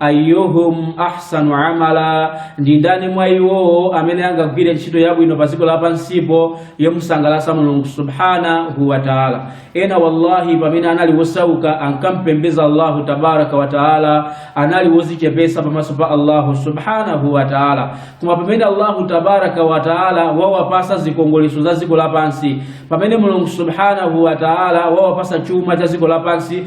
ayyuhum ahsanu amala ndi ndani mwa iwo amene angagwire ntchito yabwino pa dziko lapansipo yomusangalatsa mulungu subhanahu wa taala ena wallahi pamene anali wosauka ankampembeza allahu tabaraka wa taala anali wozichepesa pamaso pa allahu subhanahu wa taala koma pamene allahu tabaraka wa taala wawapasa zikongoleso za dziko lapansi pamene mulungu subhanahu wa taala wawapasa chuma cha dziko lapansi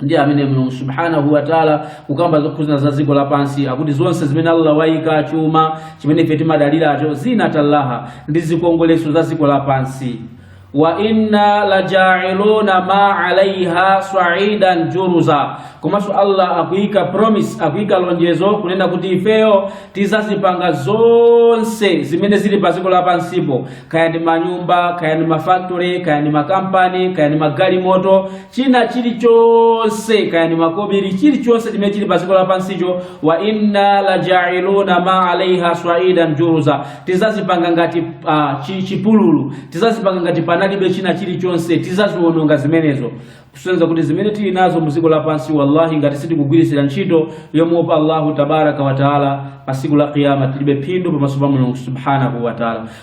ndiye amene mulungu subhanahu wataala kukamba zokhuzana za dziko lapansi akuti zonse zimene allah wayika chuma chimene ife timadaliracho zina tallaha ndi zikongoleso za dziko lapansi wa inna lajailuna ma alaiha saidan juruza komanso allah akuyika promise akuyika lonjezo kunena kuti ifeyo tizazipanga zonse zimene zili pa dziko lapansipo kaya ndi manyumba kaya ndi mafactory kaya ndi makampani kaya ndi magalimoto china chilichonse kaya ni makobiri chilichonse chimene chili padziko lapansicho wa inna lajailuna ma alaiha swaidan juruza tizazipanga ngati chipululu tizazipanga ngati panalibe china chilichonse tizaziwononga zimenezo kusonyeza kuti zimene tili nazo mu dziko lapansi wallahi ngati sitikugwiritsira ntchito yomuopa allahu tabaraka wa taala pa tsiku la qiyama tilibe phindu pamaso pa mulungu subhanahu wa taala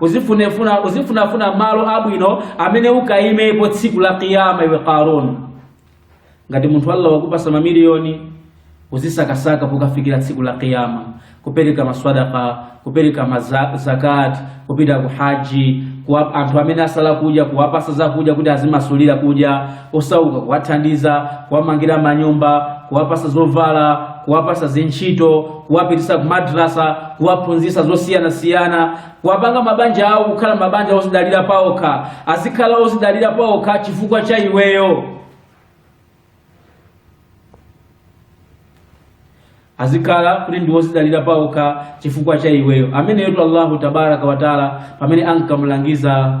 uzifunefuna uzifunafuna malo abwino amene ukaimepo tsiku la kiyama iwe karun ngati munthu allah wakupasa mamiliyoni uzisakasaka pokafikira tsiku la kiyama kupereka maswadaka kupereka mazakat kupita ku haji kwa anthu amene asala kudya kuwapasa zakudya kuti azimasulira kudya osauka kuwathandiza kuwamangira manyumba kuwapasa zovala kuwapasa zintchito kuwapitisa kumadrasa kuwaphunzisa zosiyanasiyana kuwapanga mabanja awo kukhala mabanja ozidalira paokha azikhala ozidalira paokha chifukwa cha iweyo azikhala kuti ndi wozidalira paokha chifukwa cha iweyo ameneyotu allahu tabaraka wataala pamene ankamulangiza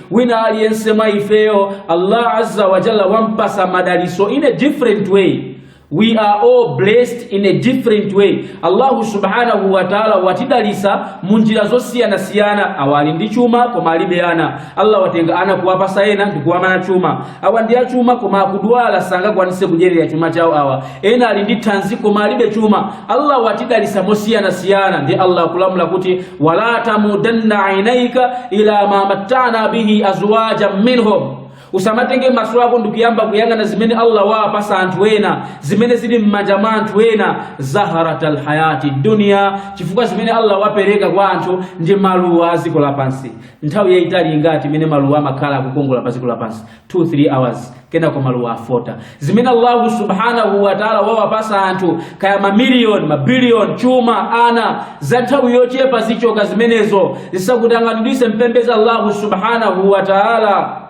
wina aliyense mwa ifeyo allah azza wa jalla wampasa madaliso in a different way we are all blessed in a different way allahu subhanahu wa taala watidalisa mu njira zosiyanasiyana awa ali ndi chuma koma alibe ana allah watenga ana kuwapasa ena ndikuwamana chuma awa ndi achuma koma akudwala sangakwanise kudyerera chuma chawo awa ena ali ndi thanzi koma alibe chuma allah watidalisa mosiyanasiyana ndi allah akulamula kuti wala tamudanna ainaika ila ma mattana bihi azwaja minhum usamatenge maso ako ndikuyamba kuyang'ana zimene allah waapasa anthu ena zimene zili m'manja mwa anthu ena zaharata lhayati dunia chifukwa zimene allah wapereka kwa anthu ndi maluwa a dziko lapansi nthawi yayitali ngati imene maluwa amakhala akukongola pa dziko lapansi 2 3 hours kenako maluwa afota zimene allahu subhanahu wataala wawapasa anthu kaya mamiliyoni mabiliyoni chuma ana za nthawi yochepa zichoka zimenezo zisakutanganidwise kupembedza allahu subhanahu wataala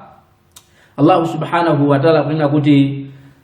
allahu subhanahu wataala kunena kuti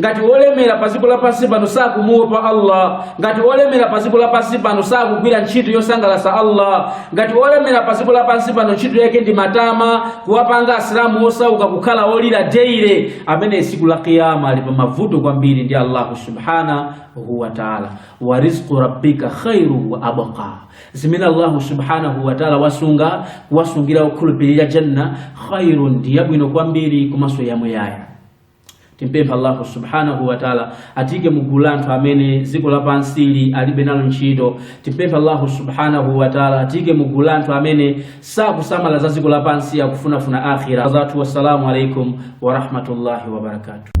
ngati wolemera pa dziko lapansi pano sakumuopa allah ngati wolemera pa dziko lapansi pano sakugwira ntchito yosangalatsa allah ngati wolemera pa dziko lapansi pano ntchito yake ndi matama kuwapanga asilamu osauka kukhala olira daily amene tsiku la kiyama ali pa mavuto kwambiri ndi allahu subhanahu wa taala wa rizqu rabbika khairu wa abqa zimene allahu subhanahu wa taala wasungira okhulupirira janna khairun ndi yabwino kwambiri komanso yamuyaya Timpempha Allahu subhanahu wa ta'ala atiike mu gulu la anthu amene dziko lapansi ili alibe nalo ntchito. Timpempha Allahu subhanahu wa ta'ala atiike mu gulu la anthu amene sakusamala za dziko lapansi akufunafuna akhira. Azatu, wassalamu alaikum wa rahmatullahi wa barakatuh.